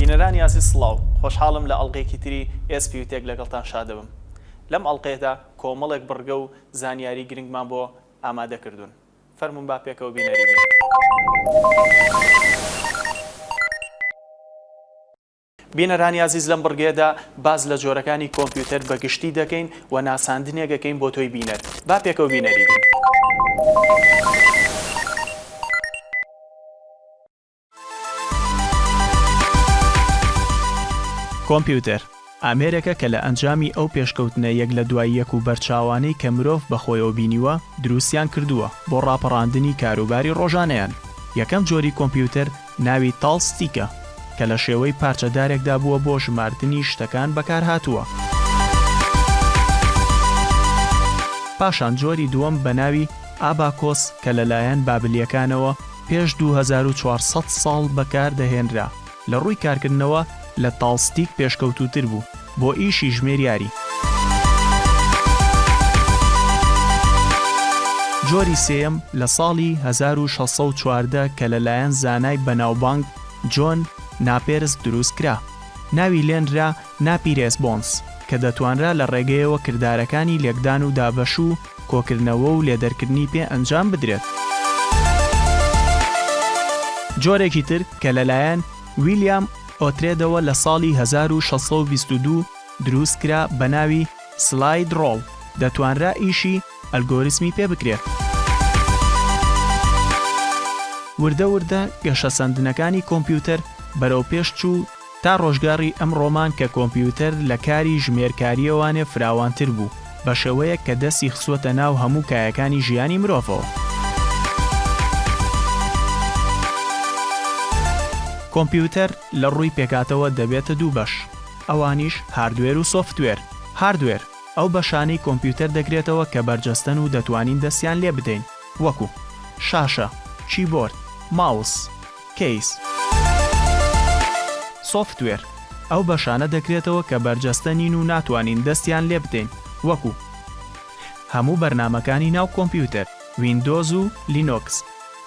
بینەرانی ئازیز سڵاو، خۆشحاڵم لە ئەڵقەیەکی تری ئێس پیو تێک لەگەڵتان شادبم. لەم ئەڵقەیەدا کۆمەڵێک بڕگە و زانیاری گرنگمان بۆ ئامادە کردوون. فەرموون با پێکەوە بینەری بین. بینەرانی ئازیز لەم بڕگەیەدا باس لە جۆرەکانی کۆمپیوتەر بە گشتی دەکەین و ناساندنێک ئەکەین بۆ تۆی بینەر با پێکەوە بینەری بین. کۆمپیوتەر ئامێرێکە کە لە ئەنجامی ئەو پێشکەوتنە یەک لە دوای یەک و بەرچاوانەی کە مرۆڤ بە خۆیەوە بینیوە دروستیان کردووە بۆ ڕاپەڕاندنی کاروباری ڕۆژانەیان یەکەم جۆری کۆمپیوتەر ناوی تاڵ ستیکە کە لە شێوەی پارچە دارێکدا بووە بۆ ژماردنی شتەکان بەکار هاتووە. پاشان جۆری دووەم بە ناوی ئاباکۆس کە لە لایەن بابلییەکانەوە پێش دوو هەزار و چوار سەد ساڵ بەکار دەهێنرا لە ڕووی کارکردنەوە، لە تاڵستیک پێشکەوتووتر بوو بۆ ئیشی ژمێریاری. جۆری سێیەم لە ساڵی هەزار و شەش سەد و چواردە کە لەلایەن زانای بەناوبانگ جۆن ناپێرس دروست کرا، ناوی لێنرا ناپیرێس بۆنس، کە دەتوانرا لە ڕێگەیەوە کردارەکانی لێکدان و دابەش و کۆکردنەوە و لێدەرکردنی پێ ئەنجام بدرێت. جۆرێکی تر کە لەلایەن، ویلیام ئۆترێدەوە لە ساڵی هەزار و شەش سەد و بیست و دوو دروست کرا بە ناوی سلاید ڕۆڵ دەتوانرا ئیشی ئەلگۆریسمی پێ بکرێ. وردە وردە گەشەسەندنەکانی کۆمپیوتەر بەرەو پێش چوو تا ڕۆژگاڕی ئەمڕۆمان کە کۆمپیوتەر لە کاری ژمێرکاریەوانێ فراوانتر بوو. بە شێوەیەک کە دەستی خستووەتە ناو هەموو کایەکانی ژیانی مرۆڤەوە. کۆمپیوتەر لە ڕووی پێکهاتەوە دەبێتە دوو بەش، ئەوانیش هاردوێر و سۆفتوێر. هاردوێر، ئەو بەشانەی کۆمپیوتەر دەگرێتەوە کە بەرجەستەن و دەتوانین دەستیان لێ بدەین، وەکو، شاشە، کیبۆرد، ماوس. کەیس سۆفتوێر ئەو بەشانە دەکرێتەوە کە بەرجەستە نین و ناتوانین دەستیان لێ بدەین وەکو هەموو بەرنامەکانی ناو کۆمپیوتەر ویندۆز و لینۆکس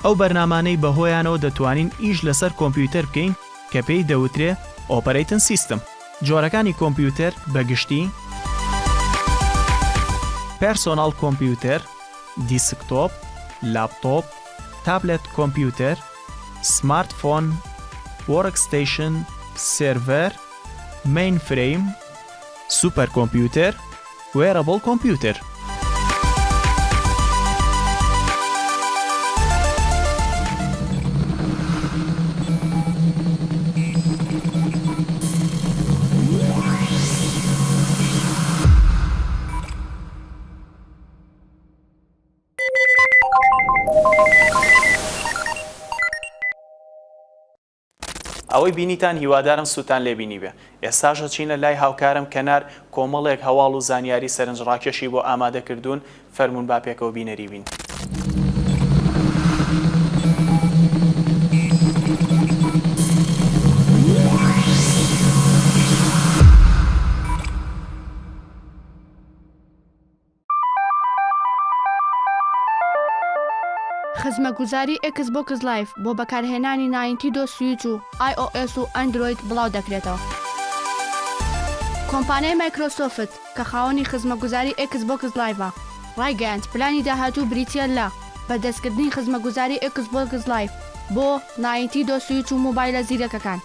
ئەو بەرنامانەی بەهۆیانەوە دەتوانین ئیش لەسەر کۆمپیوتەر بکەین کە پێی دەوترێ ئۆپەرەیتن سیستم جۆرەکانی کۆمپیوتەر بە گشتی پێرسۆناڵ کۆمپیوتەر دیسکتۆپ لاپتۆپ تابلێت کۆمپیوتەر، سمارت فۆن، وۆرک ستەیشن، سێرڤەر، مەین فرەیم، سوپەر کۆمپیوتەر، وێرەبڵ کۆمپیوتەر. ئەوەی بینیتان هیوادارم سوودتان لێ بینیبێ. ئێستاش ئەچینە لای هاوکارم کەنار، کۆمەڵێک هەواڵ و زانیاری سەرنجڕاکێشی بۆ ئامادە کردوون، فەرموون با پێکەوە بینەری بین. خزمەگوزاری ئێکس بۆکس لایڤ بۆ بەکارهێنانی ناینتیدۆ سویچ و ئای ئۆ ئێس و ئەندرۆید بڵاو دەکرێتەوە. کۆمپانیای مایکرۆسۆفت کە خاوەنی خزمەگوزاری ئێکس بۆکس لایڤە، ڕایگەیاند پلانی داهاتوو بریتییە لە بەردەستکردنی خزمەگوزاری ئێکس بۆکس لایڤ بۆ ناینتیدۆ سویچ و مۆبایلە زیرەکەکان.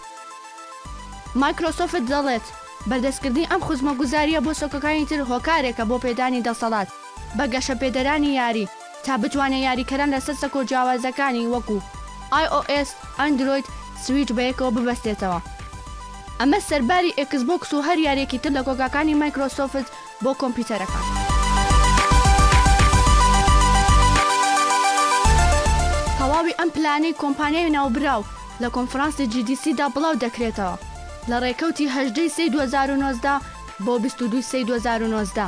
مایکرۆسۆفت دەڵێت بەردەستکردنی ئەم خزمەتگوزارییە بۆ سۆکەکانی تر هۆکارێکە بۆ پێدانی دەسەڵات بە گەشەپێدەرانی یاری تا بتوانێت یاریکەران لەسەر سەکۆ جیاوازەکانی وەکو، ئای ئۆ ئێس، ئەندرۆید، سویچ بەیەکەوە ببەستێتەوە. ئەمە سەرباری ئێکسبۆکس و هەر یارییەکی تر لە کۆگاکانی مایکرۆسۆفت بۆ کۆمپیوتەرەکان. تەواوی ئەم پلانەی کۆمپانیای ناوبراو لە کۆنفرانسی جی دی سی دا بڵاو دەکرێتەوە لە ڕێکەوتی هەژدە ی سێی دوو هەزار و نۆزدە بۆ بیست و دوو ی سێی دوو هەزار و نۆزدە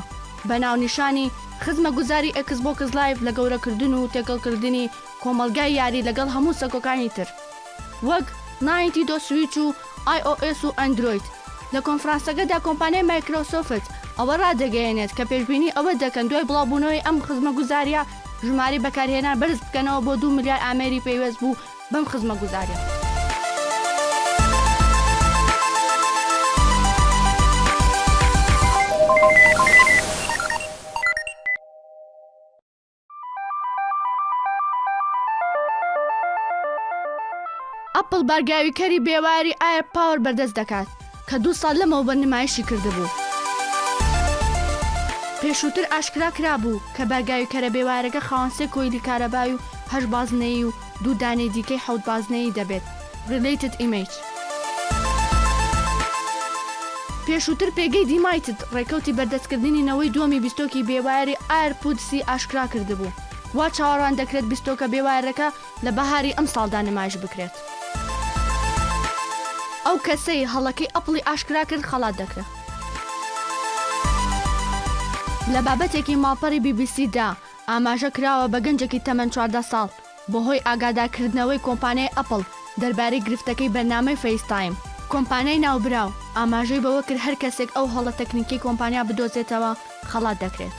بە ناونیشانی خزمەگوزاری ئێکسبۆکس لایڤ لە گەورەکردن و تێکەڵکردنی کۆمەڵگای یاری لەگەڵ هەموو سەکۆکانی تر. وەک، ناینتیدۆ سویچ و ئای ئۆ ئێس و ئەندرۆید. لە کۆنفرانسەکەدا کۆمپانیای مایکرۆسۆفت ئەوە ڕادەگەیەنێت کە پێشبینی ئەوە دەکەن دوای بڵاوبوونەوەی ئەم خزمەگوزارییە ژمارەی بەکارهێنان بەرز بکەنەوە بۆ دوو ملیار ئامێری پەیوەست بوو بەم خزمەگوزارییە. ئەپڵ بارگاویکەری بێواری ئایەر پاوەر بەردەست دەکات کە دوو ساڵ لەمەوبەر نمایشی کردبوو. پێشووتر ئاشکرا کرابوو کە بارگاویکەرە بێوارەکە خاوەن سێ کۆیلی کارەبای و هەشت بازنەیی و دوو دانەی دیکەی حەوت بازنەیی دەبێت Related Image. پێشووتر پێگەی دیمایتد ڕێکەوتی بەردەستکردنی نەوەی دووەمی بیستۆکی بێ وایەری ئایرپودس ی ئاشکرا کردبوو، وا چاوەڕواندەکرێت بیستۆکە بێ وایەرەکە لە بەهاری ئەمساڵدا نمایش بکرێت. ئەو کەسەی هەڵەکەی ئەپڵی ئاشکرا کرد خەڵات دەکرێت. لە بابەتێکی ماڵپەڕی بی بی سی دا، ئاماژە کراوە بە گەنجێکی تەمەن چواردە ساڵ بەهۆی ئاگاداکردنەوەی کۆمپانیای ئەپڵ دەربارەی گرفتەکەی بەرنامەی فەیستایم. کۆمپانیای ناوبراو ئاماژەی بەوە کرد هەر کەسێک ئەو هەڵە تەکنیکیەی کۆمپانیا بدۆزێتەوە خەڵات دەکرێت.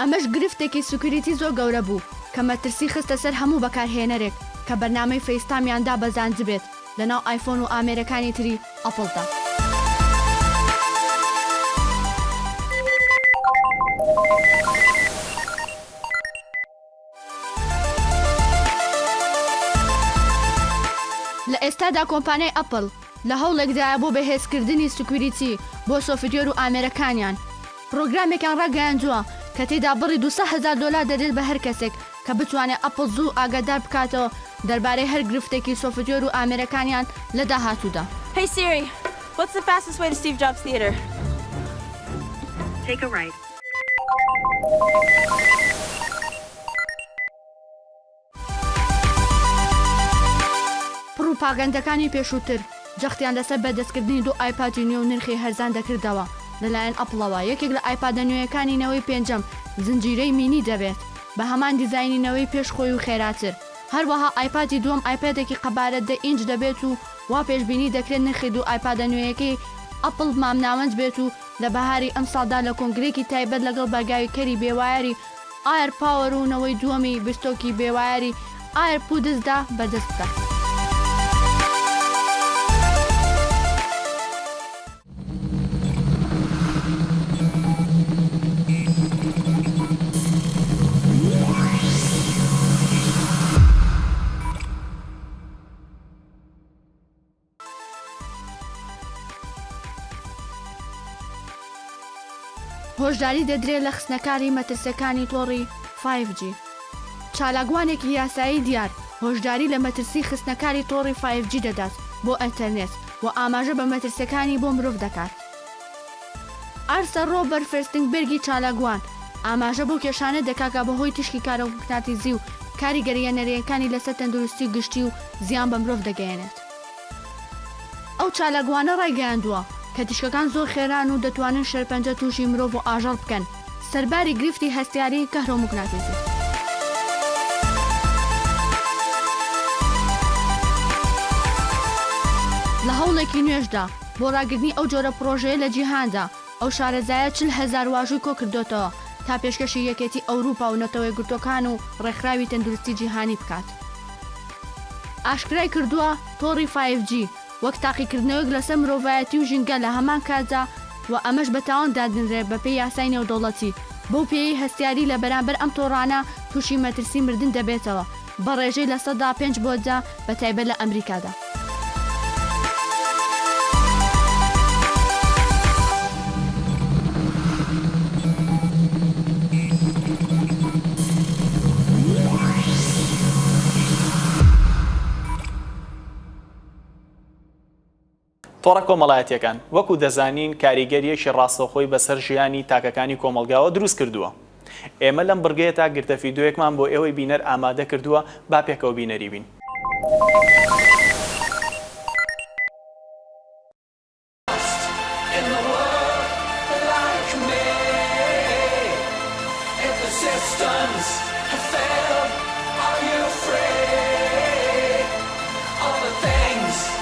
ئەمەش گرفتێکی سکیوریتی زۆر گەورە بوو کە مەترسی خستە سەر هەموو بەکارهێنەرێک کە بەرنامەی فەیستایمیان دابەزاندبێت لەناو ئایفۆن و ئامێرەکانی تری ئەپڵدا. لە ئێستادا کۆمپانیای ئەپڵ لە هەوڵێکدایە بۆ بەهێزکردنی سکویریتی بۆ سۆفتوێر و ئامێرەکانیان، پڕۆگرامێکیان ڕاگەیاندووە کە تێیدا بڕی دوو سەد هەزار دۆلار دەدرێت بە هەر کەسێک کە بتوانێت ئەپڵ زوو ئاگادار بکاتەوە دەربارەی هەر گرفتێکی سۆفتوێر و ئامێرەکانیان لە داهاتوودا. Hey Siri, what's the fastest way to Steve Jobs Theater? Take a right. پڕوپاگەندەکانی پێشووتر جەختیان لەسەر بەدەستکردنی دوو ئایپادی نوێ و نرخی هەرزان دەکردەوە لەلایەن ئەپڵەوە، یەکێک لە ئایپادە نوێیەکانی نەوەی پێنجەم زنجیرەی مینی دەبێت بە هەمان دیزاینی نەوەی پێش خۆی و خێراتر، هەروەها ئایپادی دووەم ئایپادێکی قەبارە دە ئینج دەبێت و وا پێشبینی دەکرێت نرخی دوو ئایپادە نوێیەکەی ئەپڵ مامناوەند بێت و لە بەهاری ئەمساڵدا لە کۆنگرەیەکی تایبەت لەگەڵ بەرگاوی کەری بێوایەری ئایر پاوەر و نەوەی دووەمی بستۆکی بێوایەری ئایر پودزدا بەردەست بکات. هۆشداری دەدرێت لە خستنەکاری مەترسەکانی تۆڕی فایڤ جی چالاکوانێکی یاسایی دیار هۆشداری لە مەترسی خستنەکاری تۆڕی فایڤ جی دەدات بۆ ئەتەرنێت و ئاماژە بە مەترسیەکانی بۆ مرۆڤ دەکات. ئارسە ڕۆبەر فێستنگبێرگی چالاکوان ئاماژە بەو کێشانە دەکات کە بە هۆی تیشکی کارۆمقناتیزی و کاریگەرییە نەرێنیەکانی لەسەر تەندروستی گشتی و زیان بە مرۆڤ دەگەیەنێت. ئەو چالاکوانە ڕایگەیاندووە کە تیشکەکان زۆر خێران و دەتوانن شێرپەنجە تووشی مرۆڤ و ئاژەڵ بکەن، سەرباری گرفتی هەستیاری کهرۆموگناتیزی. لە هەوڵێکی نوێشدا، بۆ ڕاگرتنی ئەو جۆرە پڕۆژەیە لە جیهاندا، ئەو شارەزایە چل هەزار واژووی کۆکردۆتەوە تا پێشکەشی یەکێتی ئەوروپا و نەتەوەیەکگرتووەکان و ڕێکخراوی تەندروستی جیهانی بکات. ئاشکرایکردووە، تۆڕی فایڤ جی وەک تاقیکردنەوەیەک لەسەر مرۆڤایەتی و ژینگە لە هەمان کاتدا و ئەمەش بە تاوان دادەنرێت بەپێی یاسای نێودەوڵەتی، بەو پێیەی هەستیاری لە بەرامبەر ئەم تۆڕانە تووشی مەترسی مردن دەبێتەوە. بە ڕێژەی لە سەدا پێنج بۆ دە بە تایبەت لە ئەمریکادا. تۆڕە کۆمەڵایەتییەکان، وەکو دەزانین کاریگەرییەکی ڕاستەوخۆی بەسەر ژیانی تاکەکانی کۆمەڵگاوە دروست کردووە. ئێمە لەم بڕگەیەدا گرتە فیدۆیەکمان بۆ ئێوەی بینەر ئامادە کردووە، با پێکەوە بینەری بین.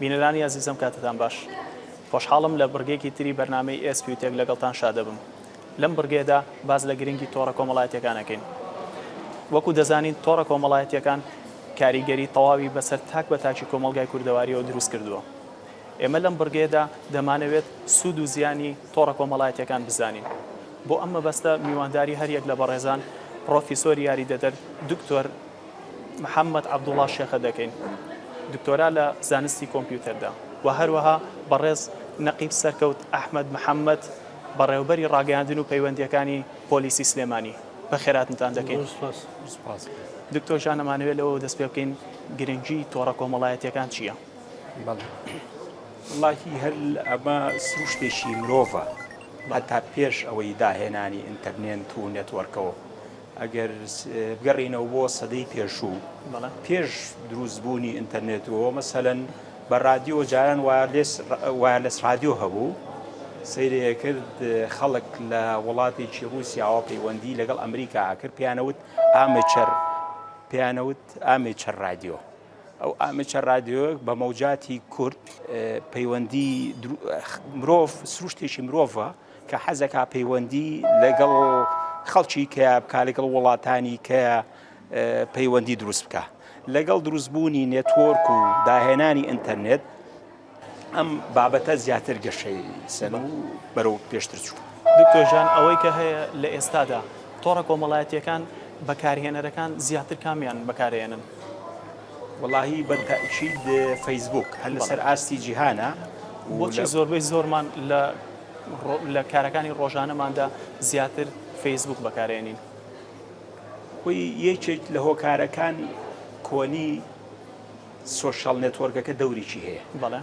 بینەرانی ئازیزم کاتتان باش خۆشحاڵم لە بڕگەیەکی تری بەرنامەی ئێسپیوتێک لەگەڵتان شادەبم لەم بڕگەیەدا باس لە گرنگی تۆڕە کۆمەڵایەتییەکان ئەکەین. وەکو دەزانین تۆڕە کۆمەڵایەتییەکان کاریگەری تەواوی بەسەر تاک بە تاکی کۆمەڵگای کوردەوارییەوە دروست کردووە. ئێمە لەم بڕگەیەدا دەمانەوێت سوود و زیانی تۆڕە کۆمەڵایەتییەکان بزانین. بۆ ئەم مەبەستە میوانداری هەر یەک لە بەڕێزان پڕۆفیسۆری یاریدەدەر دکتۆر محەمەد عەبدوڵا شێخە دەکەین، دکتۆرا لە زانستی کۆمپیوتەردا و هەروەها بەڕێز نەقیب سەرکەوت ئەحمەد محەمەد، بەڕێوەبەری ڕاگەیاندن و پەیوەندییەکانی پۆلیسی سلێمانی بە خێراتنتان دەکەین. دکتۆر ژان ئەمانەوێت لەوەوە دەست پێ بکەین گرنگی تۆڕە کۆمەڵایەتیەکان چییە؟ وڵاهی هەر ئەمە سروشتێکی مرۆڤە هەتا پێش ئەوەی داهێنانی ئینتەرنێنت و نێتوەرکەوە ئەگەر بگەڕینەوە بۆ سەدەی پێشوو پێش دروستبوونی ئینتەرنێتەوە مەسەەن بە ڕادیۆ جاران وایەرلێس ڕادیۆ هەبوو سەیری ئەکرد خەڵک لە وڵاتێکی ڕووسیاوە پەیوەندی لەگەڵ ئەمریکا ئەکرد پێیانەوت ئامێچەر پێیانەوت ئامێچەر ڕادیۆ ئەو ئامێچەر ڕادیۆ بە مەوجاتی کورد پەیوەندی مرۆڤ سروشتێکی مرۆڤە کە حەزەکە پەیوەندی لەگەڵ خەڵکی کە بکە لەگەڵ وڵاتانی کە پەیوەندی دروست بکا لەگەڵ دروستبوونی نێتۆرک و داهێنانی ئینتەرنێت ئەم بابەتە زیاتر گەشەی سەر و بەرەو پێشتر چوو دکتۆژان ئەوەی کە هەیە لە ئێستادا تۆڕە کۆمەڵایەتیەکان بەکارهێنەرەکان زیاتر کامیان بەکارێنن وڵی بەتەشید فەیسبوک هەر لەسەر ئاستی جیهانە بۆچی زۆربەی زۆرمان لە لە کارەکانی ڕۆژانەماندا زیاتر فەیسبوک بەکارێنین وتی، یەکێک لە هۆکارەکان کۆنی سۆشیاڵ نێتۆرکەکە دەورێکی هەیە. بەڵێ.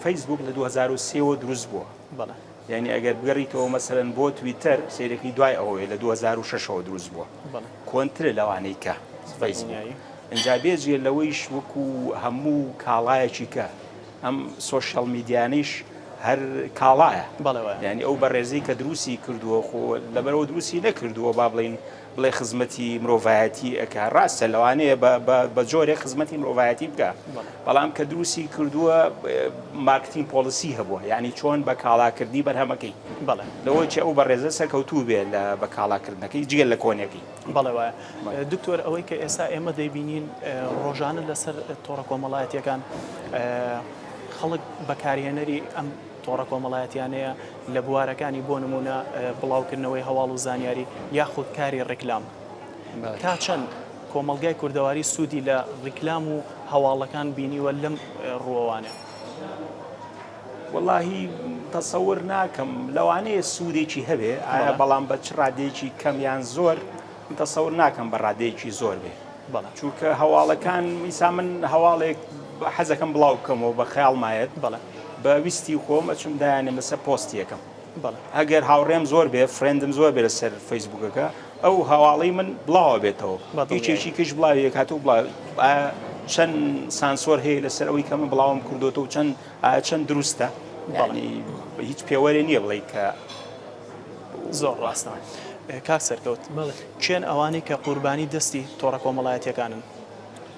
فەیسبووک لە دوو هەزار و سێ وە دروست بووە. بەڵێ. یانی ئەگەر بگەڕیتەوە مەسەلەن بۆ تویتەر سەیرەکەی دوای ئەوەیە لە دوو هەزار و شەش ەوە دروست بووە. بەڵێ. کۆنترە لەوانەی کە فەیسبووک. دڵنیایی. ئینجا بێجگە لەوەیش وەکوو هەموو کاڵایەکی کە. ئەم سۆشیاڵ میدیانەیش هەر کاڵایە یانی ئەو بەڕێزی کە دروستی کردووە خۆ لەبەرەوە دروستی نەکردووە با بڵین بڵێ خزمەتی مرۆڤایەتی ئەک ڕاستە لەوانەیە بە جۆرێک خزمەتی مرۆڤایەتی بکە بەڵام کە دروستی کردووە مارکتین پۆلیسی هەبووە یعنی چۆن بە کاڵاکردنی بەرهەمەکەی بەڵێ لەوەی ئەو بەڕێزە سەرکەوتوو بێ لە بە کاڵاکردنەکەی جگەل لە کۆنەکەی بەڵێ وایە دکتۆر ئەوەی کە ئێستا ئێمە دەیبینین ڕۆژانە لەسەر تۆڕە کۆمەڵایەتیەکان خەڵک بەکارهێنەری ئەم تۆڕە کۆمەڵایەتیانەیە لە بوارەکانی بۆ نمونە بڵاوکردنەوەی هەواڵ و زانیاری یاخود کاری ڕیکلام تا چەند کۆمەلگای کوردەواری سوودی لە ڕیکلام و هەواڵەکان بینیوە لەم ڕووەوانێ. وەڵاهی تەسەور ناکەم لەوانەیە سودێکی هەبێ ئایا بەڵام بە چ ڕادەیەکی کەم یان زۆر من تەسەور ناکەم بە ڕادەیەکی زۆر بێ چونکە هەواڵەکان ئیسا من هەواڵێک حەزەکەم بڵاو بکەمەوە بە خەیاڵمایەت بە ویستی خۆم ئەچم دایانێم لەسەر پۆستی یەکەم ئەگەر هاوڕێم زۆر بێ فرێندم زۆر بێ لەسەر فەیسبووکەکە ئەو هەواڵەی من بڵاو ئەبێتەوە هیچ هیچی کەش بڵاوی یەکاتو بڵاو ئایا چەند سانسۆر هەیە لەسەر ئەوەی کە من بڵاوم کردوەوە و چەند ئایا چەند دروستە بەڵی هیچ پێوەرێ نییە بڵێ کە زۆر ڕاستە کاک سەرکەوت کێن ئەوانەی کە قوربانی دەستی تۆڕە کۆمەڵایەتیەکانن؟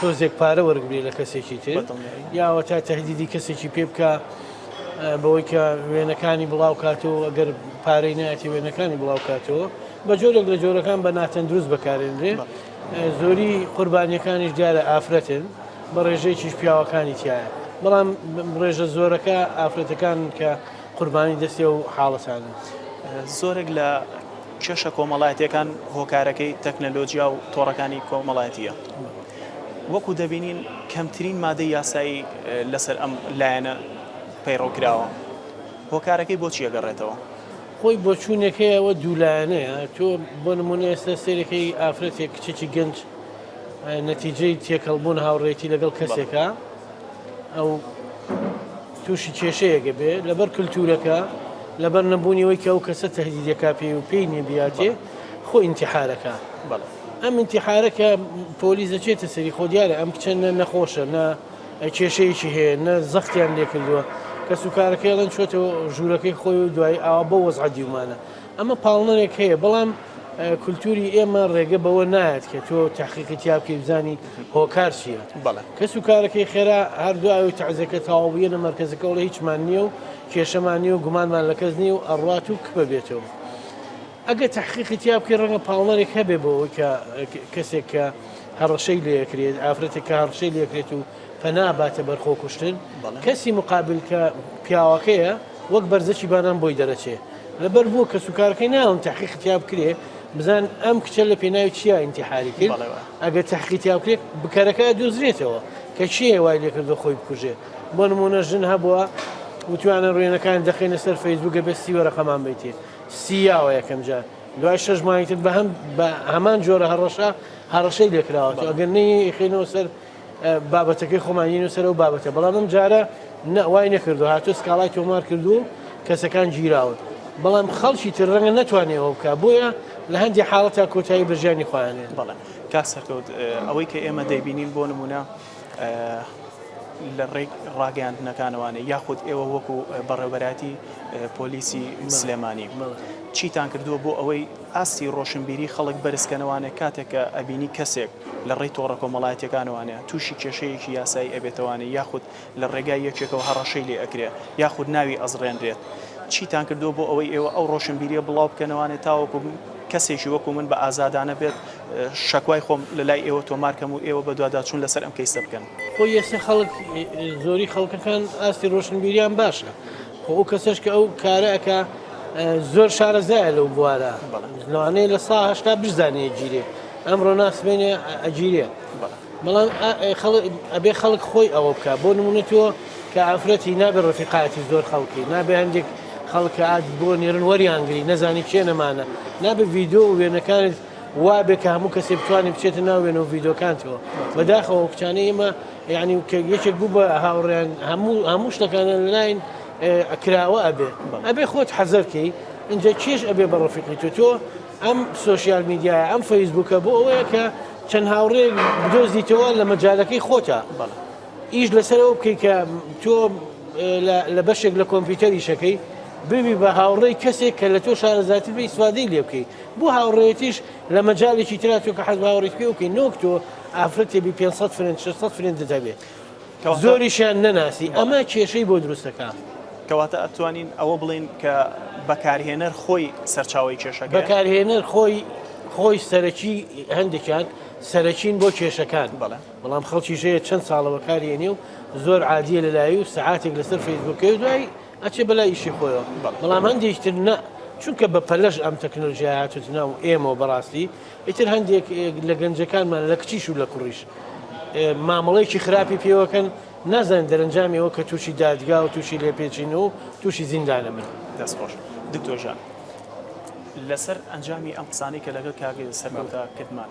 تۆزێک پارە وەرگری لە کەسێکی تر یاوەتا تهدیدی کەسێکی پێ بکە بەوەی کە وێنەکانی بڵاو کاتەوە ئەگەر پارەی نایەتی وێنەکانی بڵاو کاتەوە بە جۆرێک لە جۆرەکان بە ناتەندروست بەکارێنرێ زۆری قوربانیەکانیش دیارە ئافرەتن بە ڕێژەیەکیش پیاوەکانی تایە بەڵام ڕێژە زۆرەکە ئافرەتەکان کە قوربانی دەستی و حاڵەتانن زۆرێک لە کێشە کۆمەڵایەتیەکان هۆکارەکەی تەکنەلۆجیا و تۆڕەکانی کۆمەڵایەتیە وەکو دەبینین کەمترین مادەی یاسایی لەسەر ئەم لایەنە پەیڕەو کراوە هۆکارەکەی بۆ چیە گەڕێتەوە؟ خۆی بۆچوونەکەی ئەوە دوولایەنەیە تۆ بۆ نمونە ئێستا سەیرەکەی ئافرەتێک کچێکی گەنج نەتیجەی تێکەڵبوون هاوڕێتی لەگەڵ کەسێکە ئەو تووشی کێشەیەک ئەبێ لەبەر کلتوورەکە، لەبەر نەبوونی ئەوەی کە ئەو کەسە تەهدید ئەکا پێی و پێی نییە بیاتێ، خۆ ئینتیحار ئەکا. بەڵێ. ئەم ئینتیحارە کە پۆلیس دەچێتە سەری، خۆ دیارە ئەم کچە نە نەخۆشە، نە کێشەیەکی هەیە، نە زەختیان لێ کردووە. کەسوکارەکەی ئەڵێن چووەتە ژوورەکەی خۆی و دوایی ئاوا بەو وەزعە دیومانە. ئەمە پاڵنەرێک هەیە، بەڵام کولتووری ئێمە ڕێگە بەوە نایەت کە تۆ تەحقیقی تیا بکەی بزانی هۆکار چییە. بەڵێ. کەس و کارەکەی خێرا هەر دوای ئەوەی تەعزیەکە تەواو بوو یەنە مەرکەزەکە ئەڵێ هیچمان نییە و کێشەمان نییە و گومانمان لە کەس نییە و ئەڕوات و کپ ئەبێتەوە. ئەگەر تەحقیقی تیا بکەی ڕەنگە پاڵنەرێک هەبێ بۆ ئەوەی کە کەسێک کە هەڕەشەی لێ ئەکرێت، ئافرەتێک کە هەڕشەی لێ ئەکرێت و پەنا باتە بەر خۆکوشتن، کەسی موقابل کە پیاوەکەیە، وەک بەرزەکی بانان بۆی دەرەچێ لەبەر بووە کەسوکارەکەی ناوم تحقیق تیا بکرێ بزان ئەم کچە لە پێناوی چیا ئینتحاری کرد ئەگە تحقی تیا بکرێت بکەرەکە دۆزرێتەوە کە چیە وای لێکردو خۆی بکوژێ بۆ نمونە ژن هەبووە وتوانە ڕوێنەکان دەخینە سەر فەیسبووگە بێ سیوەرەقەمان بیتێ سیاوە یەکەم جار دوای شەش مانگتر بە هەم بە هەمان جۆرە هەڕەشە هەڕەشەی لێکراوە ئەگەر نەیەخینەوە سەر بابەتەکەی خۆمان نین و سەرەوە بابەتە بەڵام ئەم جارە نەوای نەکردو هاتو سکاڵای تۆمار کردو کەسەکان گیراون بەڵام خەڵکی تر ڕەنگە نتوانێەوە بکە بۆیە لە هەندی حاڵەتە کۆتایی بەژیانی خۆیانێت بەڵێ کاک سەرکەوت ئەوەی کە ئێمە دەیبینین بۆ نمونە لە ڕێک ڕاگەیاندنەکانەوانێ یاخود ئێوە وەکو بەڕێوبەراتی پۆلیسی سلێمانی چیتان کردووە بۆ ئەوەی ئاستی ڕۆشنبیری خەڵک بەرزکەنەوانێ کاتێکە ئەبینی کەسێک لە ڕێی تۆڕە کۆمەڵایەتیەکانەوانە تووشی کێشەیەکی یاسایی ئەبێتەوانێ یاخود لە ڕێگای یەکێکەوە هەڕەشەی لێ ئەکرێ یاخود ناوی ئەزڕێنرێت چیتان کردووە بۆ ئەوەی ئێوە ئەو ڕۆشنبیریە بڵاو بکەنەوانێ تاوەکو کەسێکی وەکو من بە ئازادانە بێت شەکوای خۆم لە لای ئێوە تۆمار کەم و ئێوە بەدواداچوون لەسەر ئەم کەیسە بکەن؟ خۆی ئێستا خەڵک زۆری خەڵکەکان ئاستی ڕۆشنبیریان باشە خۆ ئەو کەسەش کە ئەو کارە ئەکا زۆر شارەزایە لەو بوارە لەوانەیە لە سا هشتا بزانێ گیرێ ئەمڕۆ ناسمێنێ ئەگیرێ بەڵام ئەبێ خەڵک خۆی ئەوە بکە بۆ نمونە تۆ کە ئافرەتی نابێ ڕفیقاتی زۆر خەڵکی نابێ هەندێک خەڵکات بۆ نێرن وەریانگری نەزانی کێ نەمانە نابێ ڤیددیو وێنەکانت وابێ کە هەموو کەسێ بتوانێت بچێتە ناو وێنە و ڤیدۆکانتەوە بەداخەوە کچانە ئێمە یعنی یەکێک بوو بە هاوڕێن هەموو هەموو شتەکانیان لەلاین ئەکراوە ئەبێ ئەبێ خۆت حەزەرکەی اینجا کێش ئەبێ بە ڕفیقی تۆ تۆ ئەم سوۆسیال میدیایە ئەم فەیسبووکە بۆ ئەوەیە کە چەند هاوڕێ بدۆزیتەوە لە مەجالەکەی خۆتە ئیش لەسەرەوە بکەی کە تۆ لە بەشێک لە کۆمپیوتەریشەکەی ببی بە هاوڕێی کەسێک کە لە تۆ شارەزاتر بی سوادەی لێ بکەیت بۆ هاوڕێیەتیش لە مەجالێکی ترا تۆ کە حەز بە هاوڕێیت پێ بکەی نۆک تۆ ئافرەتێ بی 500 فرنج 600 فرنجت هەبێ کەواتە- زۆریشیان نەناسی ئەمە کێشەی بۆ دروستەکا کەواتە ئەتوانین ئەوە بڵێین کە بەکارهێنەر خۆی سەرچاوەی کێشەکەیە؟ بەکارهێنەر خۆی خۆی سەرەکی هەندێکیان سەرەکین بۆ کێشەکان بەڵێ. بەڵام خەڵکیش هەیە چەند ساڵە بەکاریێنێ و زۆر عادیە لەلایی و سەعاتێک لەسەر فەیسبووکەی و دوای ئەچێ بەلای ئیشی خۆیەوە بەڵام هەندێکی تر نە چونکە بە پەلەش ئەم تەکنۆلژیای هاتوت ناو ئێمەوە بەڕاستی ئیتر هەندێک لە گەنجەکانمان لە کچیش و لە کوڕیش مامەڵەیەکی خراپی پێوەکەن نازانین دەرەنجامیەوە کە تووشی دادگا و تووشی لێپێچین و تووشی زیندانە بن دەستخۆش دکتۆژان لەسەر ئەنجامی ئەم قسانەی کە لەگەڵ کاگە سەرکەوتا کردمان.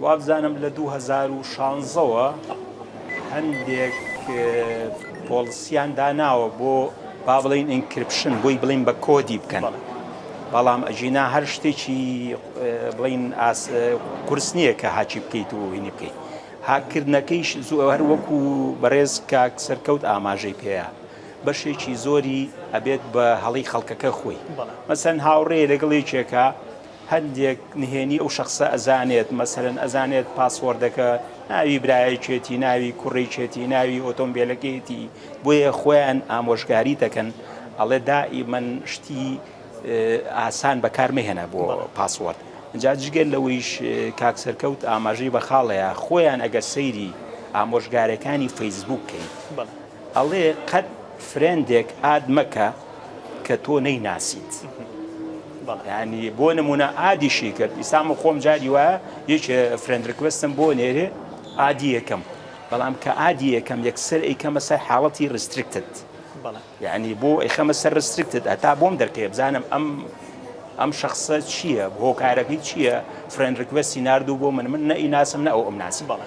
وابزانم لە دوو هەزار و شانزە وە هەندێک پۆڵسیان داناوە بۆ با بڵین ئینکرپشن بۆی بڵین بە کۆدی بکەن بەڵام ئەژینا هەر شتێکی بڵین قرس نییە کە هاچی بکەیت و هینی بکەیت هاکردنەکەیش زۆ هەر وەکو بەڕێز کاک سەرکەوت ئاماژەی پێەیە بەشێکی زۆری ئەبێت بە هەڵی خەڵکەکە خۆی مەسەن هاوڕێ لەگەڵ یەکێکە هەندێک نهێنی ئەو شەخسە ئەزانێت مەسەلەن ئەزانێت پاسوۆردەکە ناوی برایەکێتی ناوی کوڕێکێتی ناوی ئۆتۆمبیلەکەیەتی بۆیە خۆیان ئامۆژگاری دەکەن ئەڵێ دائیمەن شتی ئاسان بەکارمەهێنە بۆ پاسوۆرد جا جگەر لەوەیش کاک سەرکەوت ئاماژەی بە خاڵەیە خۆیان ئەگەر سەیری ئامۆژگارەکانی فەیسبوک کەین ئەڵێ قەت فرێندێک ئاد مەکە کە تۆ نەیناسیت یانی بۆ نمونە ئادیشی کرد ئیسام خۆم جاری وایە یەک فرێند ڕکوستم بۆ نێرێ ئادی یەکەم بەڵام کە ئادی یەکەم یەکسەر ئەیکەمە سەر حاڵەتی ڕسترکتت یعنی بۆ ئەیخەمە سەر ڕسترکتت هەتا بۆم دەرکەیە بزانم ئەم ئەم شخصە چییە هۆکارەکەی چییە فرێن ڕکوستی نردوو بۆ من من نەئیناسم نە ئەو ئەم ناسی بەڵێ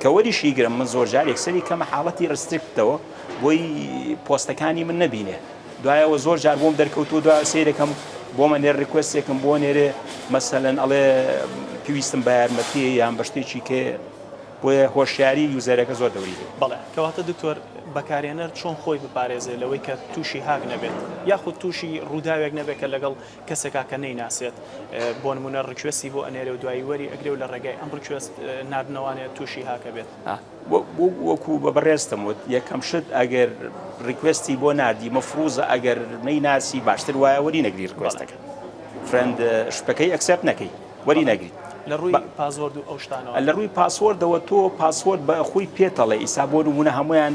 کە وەریشی گرم من زۆر جارێک سەری کەمە حاڵەتی ڕسترکتەوە بۆی پۆستەکانی من نەبینێ دوایەوە زۆر جار بۆم دەرکەوتو دو سیرەکەم بۆ مە نێر ڕکوستێکم بۆ نێرێ مەسەەن ئەڵێ پێویستم بە یارمەتی یان بەشتێکی کێ بۆیە هۆشیاری یوزەرەکە زۆر دەوری بەڵێ کەواتە دکتۆر بەکارێنەر چۆن خۆی بپارێزێ لەوەی کە تووشی هاک نەبێت یاخود تووشی ڕووداوێک نەبێت کە لەگەڵ کەسێکا کە نەیناسێت بۆنمونە ڕیکوێستی بۆ ئەنێرێ و دوایی وەری ئەگرێ و لە ڕێگای ئەم ڕیکوێست ناردنەوانەیە تووشی هاک ئەبێت. وەکو بە بەڕێزتم وت یەکەم شت ئەگەر ڕیکوێستی بۆ ناردی مەفروزە ئەگەر نەیناسی باشتر وایە وەری نەگری ڕیکوێستەکە فرێند شتەکەی ئەکسێپت نەکەی وەری نەگری. لە ڕووی پاسۆرد و ئەو شتانەوە لە ڕووی پاسۆردەوە تۆ پاسۆرد بە خۆی پێتەڵێ ئیسا بۆ نمونە هەمویان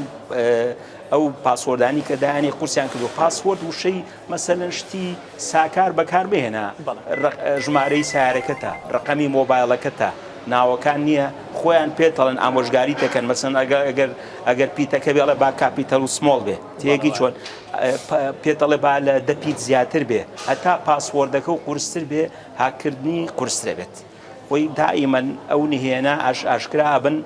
ئەو پاسۆردانی کە دایانی قورسیان کردو پاسۆرد وشەی مەسەلەن شتی ساکار بەکاربهێنە، ژمارەی سەیارەکەتە، ڕەقەمی مۆبایڵەکەتە، ناوەکان نییە، خۆیان پێتەڵێن ئامۆژگاریت دەکەن، مەسەلەن ئەگەر پیتەکە بێ ئەڵێ با کاپیتەل و سمۆڵ بێ تێیەگەی چۆن؟ پێت ئەڵێ با لە دە پیت زیاتر بێ، هەتا پاسوۆردەکە و قورستر بێ هاککردنی قورسترەبێت. خۆی دائیمەن ئەو نهێنە ئاش ئاشکرا ئەبن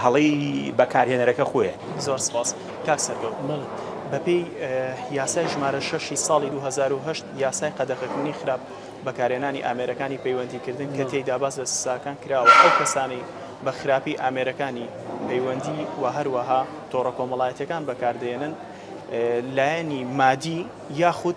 هەڵەی بەکارهێنەرەکە خۆیە. زۆر سپاس کاک سەرکەوت. بەڵێ بەپێی یاسای ژمارە شەش ی ساڵی دوو هەزار و هەشت یاسای قەدەغەکردنی خراپ بەکارهێنانی ئامێرەکانی پەیوەندیکردن کە تێیدا باس لە سزاکان کراوە ئەو کەسانەی بە خراپی ئامێرەکانی پەیوەندی و هەروەها تۆڕە کۆمەڵایەتیەکان بەکاردەهێنن لایەنی مادی یاخود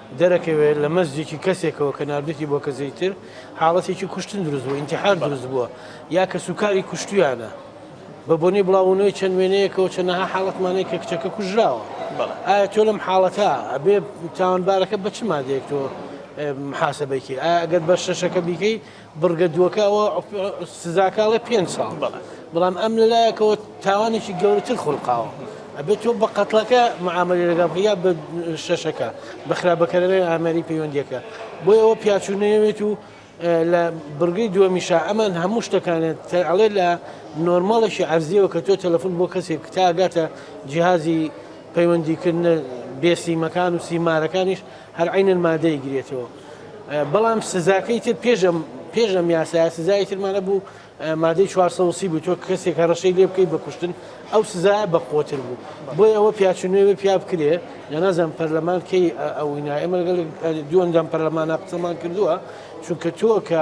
دەرەکەوێت لە مەسجێکی کەسێکەوە کە ناردوویەتی بۆ کەسێکی تر، حاڵەتێکی کوشتن دروست بووە، ئینتیحار دروست بووە، یا کەسوکاری کوشتوویانە. بە بۆنەی بڵاوبوونەوەی چەند وێنەیەکەوە چەندەها حاڵەتمان هەیە کە کچەکە کوژراوە. ئایا تۆ لەم حاڵەتە ئەبێ تاوانبارەکە بە چ مادەیەک تۆ محاسەبەی کەی؟ ئایا ئەگەر بە شەشەکە بیکەی، بڕگە دووەکە ئەوە سزاکە ئەڵێ پێنج ساڵ بەڵێ بەڵام ئەم لەلایەکەوە تاوانێکی گەورەتر خولقاوە ئەبێت تۆ بە قەتڵەکە معاملی لەگەڵ بکە یا بە شەشەکە بە خراپبەکەرەوەی ئامێری پەیوەندیەکە بۆی ئەوە پیاچوو نەیەوێت و لە بڕگەی دووەمیشا ئەمان هەموو شتەکانێت تەعڵێ لە نۆرماڵێکی عەرزیەوە کە تۆ تەلەفۆن بۆ کەسێک تا ئەگاتە جیهازی پەیوەندیکردن بێسیمەکان و سیمارەکانیش هەر عینەن مادەی گرێتەوە بەڵام سزاکەی تر پێش ئەم پێش ئەم یاسایە سزای ترمان هەبوو مادەی 430 بوو تۆ کەسێک هەڕەشەی لێ بکەی بەکوشتن ئەو سزایە بە قوتر بوو بۆی ئەوە پیاچنوێ پیا بکرێ یا نازان پەرلەمان کەی ئەوینا ئێمە لەگەڵ دووەندەم پەرلەمانە قسەمان کردووە چونکە تۆ کە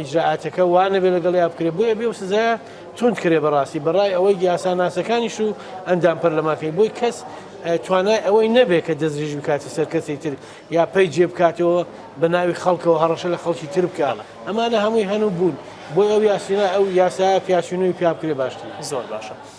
ئیجرائاتەکە وا نەبێ لەگەڵیا بکرێ بۆیە بێ و سزایە توند کرێ بەڕاستی بەڕای ئەوەی یاساناسەکانیش و ئەندام پەرلەمانکەی بۆی کەس توانای ئەوەی نەبێت کە دەستریژ بکاتە سەر کەسی تر یا پێی جێ بکاتەوە بە ناوی خەڵکەوە هەڕەشە لە خەڵکی تر بکە ئەمانە هەمووی هەن و بوون بۆی ئەو یاسینا ئەو یاسا پیاسینوی پیا بکرێ باشتر زۆر باشە.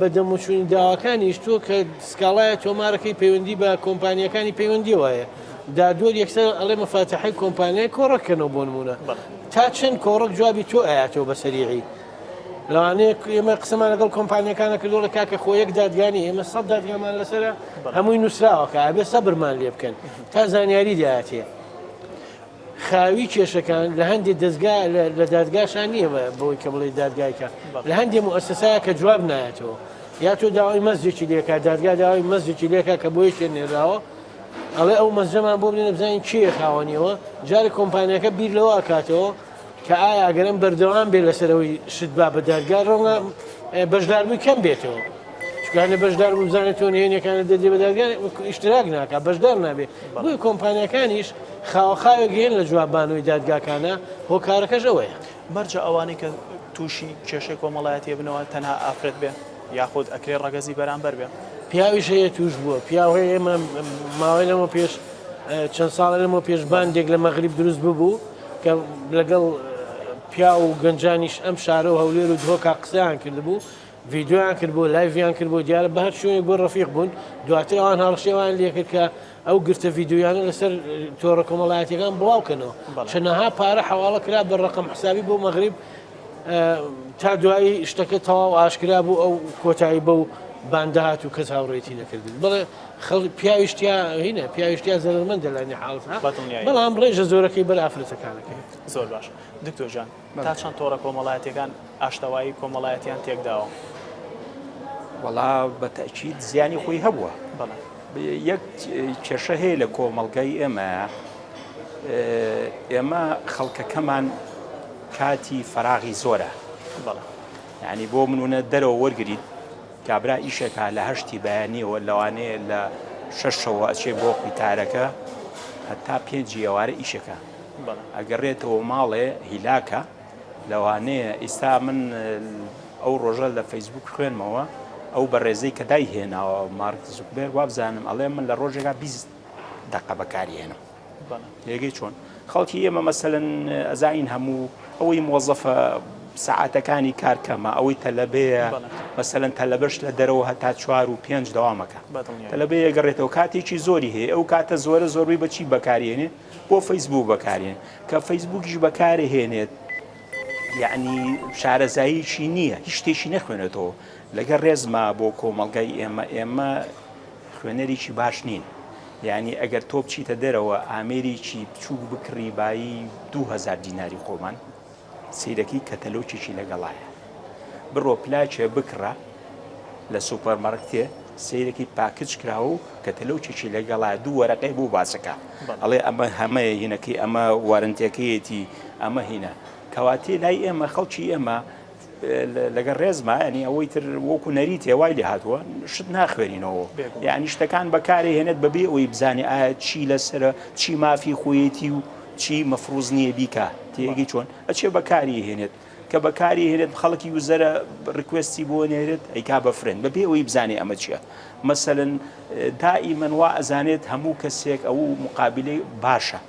بە دەموچووی داواکانیش تۆ کە سکاڵایە تۆمارەکەی پەیوەندی بە کۆمپانیەکانی پەیوەندی وایە دادوەر یەکسەر ئەڵێ مەفاتەحی کۆمپانیای کۆڕەکەنەوە بۆ نمونە تا چەند کۆڕک جوابی تۆ ئاەوە بە سەریعی لەوانەیە ئێمە قسەمان لەگەڵ کۆمپانیەکانە کردوڵە کاکە خۆ یەک دادگانی ئێمە سە دادگامان لەسەر هەمووی نووسراوەکە ئەبێ سەبرمان لێ بکەن تا زانیاری دااتێ خاوی کێشەکان لە هەندێ دەزگا لە دادگاشا نییە بە بۆی کە بڵێ دادگایکە لە هەندێ موسسایە کە جواب نایەتەوە یا تۆ داوای مەزێکی لێکا دادگا داوای مەزێکی لێکا کە بۆی شێ نێراوە ئەڵێ ئەو مەزەمان بۆ بێنە بزانین کێ خاوەنیەوە جارە کۆمپانیەکە بیر لەوە کاتەوە کە ئایا ئەگەر ئەم بەردەوام بێت لەسەر ئەوەی شت با بە دادگا ڕەنگە بەشداربووی کەم بێتەوە چکانە بەشدار بوو بزانێت تۆ نهێنەکانە دەدێ بە دادگا ئیشتراک ناکە بەشدار نابێت بۆی کۆمپانیەکانیش خاوەخاوێک گەێن لە جوابانەوەی دادگاکانە هۆکارەکەش ئەوەیە مەرجە ئەوانەی کە تووشی کێشەی کۆمەڵایەتیە بنەوە تەنها ئافرەت بێ یاخود ئەکرێ ڕەگەزی بەرامبەر بێ پیاویش هەیە توش بووە پیاوەیە ئێمە ماوەی لەمە پێش چەند ساڵە لەمە پێشباندێک لە مەغریب دروست ببوو کە لەگەڵ پیاو و گەنجانیش ئەم شارە و هەولێر و دهۆکا قسەیان کردبوو ڤیددیویان کرد بۆ لایڤیان کرد بۆ دیارە بە هەر شوێنێک بۆ ڕفیق بوون دواتر ئەوان هەڵشێوان لێکرد کە ئەو گرتە ڤیددیویانە لەسەر تۆڕە کۆمەڵایەتەکان بڵاوکەنەوە چەنەها پارە حواڵە کرا بە ڕقم حسابی بۆ مەغریب تا دوایی شتەکە تەواو ئاشکرا بوو ئەو کۆتایی بە و باندهات و کەس هاوڕێتی نەکردن بڵێ خەڵک پیاویشتیا هینە پیاویشتیا زەرمەندە لە نحاڵ بەڵام ڕێژە زۆرەکەی بەر ئافرەتەکانەکەی زۆر باش دکتۆژان تا چەند تۆڕە کۆمەڵایەتەکان ئاشتەوایی کۆمەڵایەتیان تێکداوە وەڵا بەتەچیت زیانی خۆی هەبووە بەڵێ یەک کێشە هەیە لە کۆمەلگای ئێمە ئێمە خەڵکەکەمان کاتی فەراغی زۆرە بەڵێ ینی بۆ منونە دەرەوە وەرگیت کابرا ئیشەکا لە هەشتی بەیانیەوە لەوانەیە لە شەشەوە ئەچێ بۆ قویتارەکە هەتا پێنجی ئێوارە ئیشەکە ئەگەڕێتەوە ماڵێ هیلاکە لەوانەیە ئیستا من ئەو ڕۆژە لە فەیسبوک خوێنمەوە ئەو بەڕێزەی کە دای هێناوە مارک زوکبێر وابزانم ئەڵێ من لە ڕۆژێکا بیست دەقە بەکاری هێنم بەڵێ لێگەی چۆن خەڵکی ئێمە مەسەلەن ئەزانین هەموو ئەوەی مۆزەفە سعاتەکانی کار کەمە ئەوەی تەلەبەیە مەسەن تەلەبەش لە دەرەوە هەتا چوار و پێنج داوامەکە تەلەبێ گەڕێتەوە کاتێکی زۆری هەیە ئەو کاتە زۆرە زۆربەی بەچی بەکارێنێ بۆ فەیسبوو بەکارێن کە فەیسبووکیش بەکارە هێنێت یعنی شارەزاییکی نییە هیچ شتێکی نەخوێنێتەوە لەگە ڕێزما بۆ کۆمەلگای ئێمە ئێمە خوێنەریی باش نین یانی ئەگەر تۆ بچیتە دەرەوە ئامێریی بچووک بکڕی بایی دوو هەزار دیناری خۆمان سەیرەکەی کەتەلۆکێکی لەگەڵایە بڕۆ پلاکێ بکڕە لە سوپەرمەڕکتێ سەیرەکەی پاکچ کراوە و کەتەلۆکێکی لەگەڵایە دوو وەرەقەی بۆ باسەکە ئەڵێ ئەمە هەمەیە هینەکەی ئەمە وارنتێکەیەتی ئەمە هینە کەواتێ لای ئێمە خەڵکی ئێمە لەگەڵ ڕێزما ینی ئەوەی تر وەکو نەریتێ وای لێ هاتووە شت ناخوێنینەوە یعنی شتەکان بەکارێ هێنێت بەبێ ئەوی بزانێ ئایا چی لەسرە چی مافی خۆیەتی و چی مەفروز نییە بیکە تێگەی چۆن ئەچێ بەکاری هێنێت کە بەکاری هێنێت خەڵکی وزەرە ڕکوستی بۆ نێرێت ئەیکا بە فرێن بەبێ ئەوی بزانێ ئەمە چییە مەسەن دائی منوا ئەزانێت هەموو کەسێک ئەو مقابلەی باشە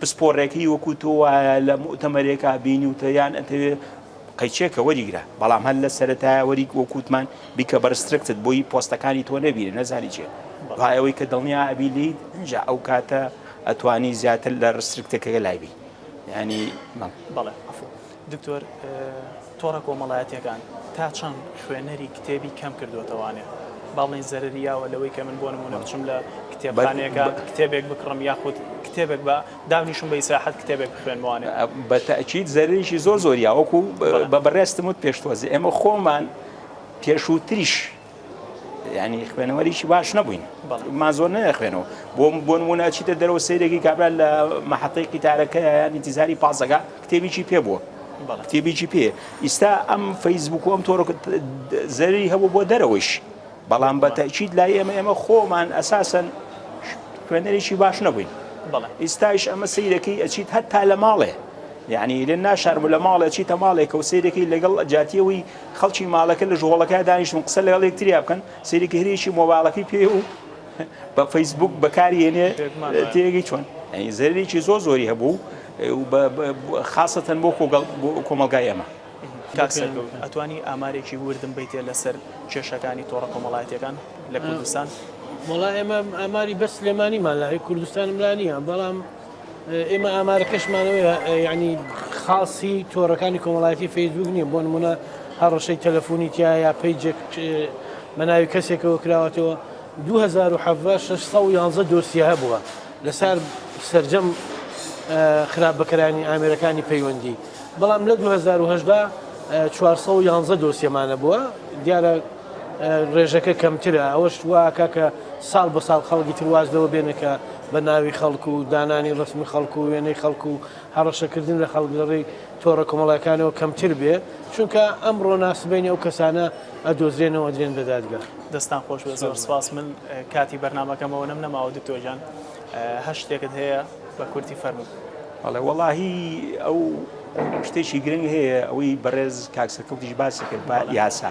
پسپۆڕێکی وەکو تۆ وایە لە موئتەمەرێکا بینیوتە یان ئەتەوێ قەیچێکە وەریگرە بەڵام هەر لە سەرەتایە وەریگ وەکو وتمان بیکە بە ڕسترکتد بۆیی پۆستەکانی تۆ نەبینێ نەزانی چێ دوای ئەوەی کە دڵنیا ئەبی لێیت ئینجا ئەو کاتە ئەتوانی زیاتر لە ڕسترکتەکەگە لای بی یانی بەڵێ. دکتۆر تۆڕە کۆمەڵایەتیەکان تا چەند خوێنەری کتێبی کەم کردۆتەوانێ با بڵێین زەرەری یاوە لەوەی کە من بۆ نمونە بچم لە کتێبخانەیەکە کتێبێک بکڕم یاخود کتێبێک بە دابنیشم بە ئیسراحەت کتێبێک بخوێنمانێ بە تاکیید زەرریی زۆر زۆر یاوەکو بە بەڕێزتم وت پێشتوەزێ ئێمە خۆمان پێشووتریش یانی خوێنەوەریی باش نەبووین مازۆر نە خوێنەوە بۆ بۆ نمونە چیتە دەرەوە سیرێکی کابرا لە مەحەتەی قیتارەکە ینی تیزاری پازەکە کتێبیی پێ بووە کتێبیی پێ ئیستا ئەم فەیسبوک و ئەم تۆڕ زەری هەبوو بۆ دەرەوەش بەڵام بە تەچیت لای ئێمە ئێمە خۆمان ئەساسن خوێنەرێکی باش نەبووین ئیستایش ئەمە سیرەکەی ئەچیت هەتا لە ماڵێ یعنی لە ناشارم لە ماڵێ چیتە ماڵێکە و سیرەکەی لەگەڵ جاتیەوەی خەڵکی ماڵەکە لە ژۆڵەکە دانیشتون قسە لەگەڵ یەکتریا بکەن، سەیری کهرێکی مۆبایڵەکەی پێیە و بە فەیسبووک بەکاری هێنێ، تێگەی چۆن؟ یانی زەرەرێکی زۆر زۆری هەبوو و بە خاسەتەن بۆ کۆمەڵگای ئێمە. کاک سەرکەوت ئەتوانی ئامارێکی وردم بەیتێ لەسەر کێشەکانی تۆڕە کۆمەڵایەتیەکان لە کوردستان؟ وەڵا ئێمە ئاماری بەس سلێمانیمان لایە کوردستانم لا نییە بەڵام. ئێمە ئامارەکەشمانەوە یانی خاصی تۆڕەکانی کۆمەڵایەتی فەیسبوک نییە بۆ نمونە هەڕەشەی تەلەفۆنی تیا یا پیجێک بە ناوی کەسێکەوە کراوەتەوە 2611 دۆسیە هەبووە لەسەر سرجەم خراپ بەکەرانی ئامێرەکانی پەیوەندی بەڵام لە 2010 411 دۆسیەمانە بووە دیارە ڕێژەکە کەمترە ئەوەش واکا کە ساڵ بە ساڵ خەڵکی تر واز لەوە بێنن کە بە ناوی خەڵک و دانانی ڕەسمی خەڵک و وێنەی خەڵک و هەڕەشەکردن لە خەڵک لە ڕێی تۆڕە کۆمەڵایەکانەوە کەمتر بێ چونکە ئەمڕۆ ناسبەینی ئەو کەسانە ئەدۆزرێنەوە ئەدرێن بە دادگا. دەستتان خۆش بێت زۆر سپاس من کاتی بەرنامەکەم ئەوەنەم نەماوە دکتۆر گیان هەر شتێکت هەیە بە کورتی فەرموو بەڵێ وەڵاهی ئەو شتێکی گرنگ هەیە ئەوەی بەڕێز کاک سەرکەوتیش باسی کرد بە یاسا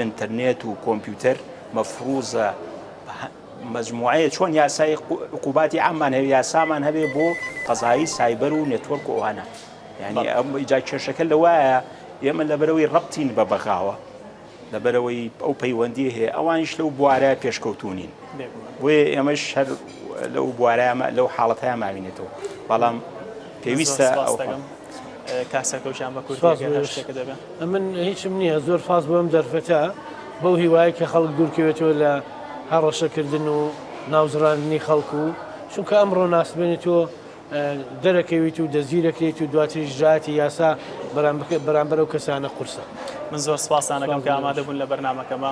ئینتەرنێت و کۆمپیوتەر مەفروزە مجموعەیە چۆن یاسای عقوباتی ئەممان هەیە یاسامان هەبێ بۆ قەزایی سایبەر و نێتوەرک و ئەوانە یعنی ئەم جا کێشەکە لەوایە ئێمە لەبەرەوەی ڕەبتین بە بەغاوە لەبەرەوەی ئەو پەیوەندی هەیە ئەوانیش لەو بوارە پێشکەوتونین بۆیە ئێمەش هەر لەو بوارەمە لەو حاڵەتە ماوینێتەوە بەڵام پێویستە ئەو کاسە کەوشان بە کورد من هیچم نییە زۆر فاز بۆم دەرفەتە بەو هیوایە کە خەڵک دوورکەوێتەوە لە هەڕەشەکردن و ناوزڕاندنی خەڵکو و چونکە ئەم ڕۆناسبێنێت تۆ دەرەکەویت و دەزیرەکەیت و دواتری ژاتی یاسا بەرامبەر و کەسانە قورسە من زۆر سپاسانەکەم کە ئامادە بوون لە بەرنمەکەمە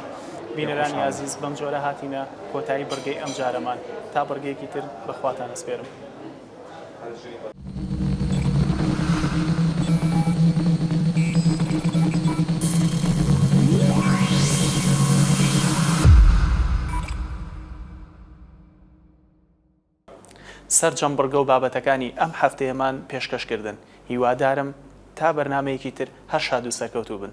بینەرانی عزیز بەم جۆرە هاتینە کۆتایی بڕگەی ئەم جارەمان تا بڕگەیەکی تر بەخواتان ئەسپێرم. سەرجەم بڕگە و بابەتەکانی ئەم هەفتەیەمان پێشکەش کردن هیوادارم تا بەرنامەیەکی تر هەر شاد و سەرکەوتوو بن.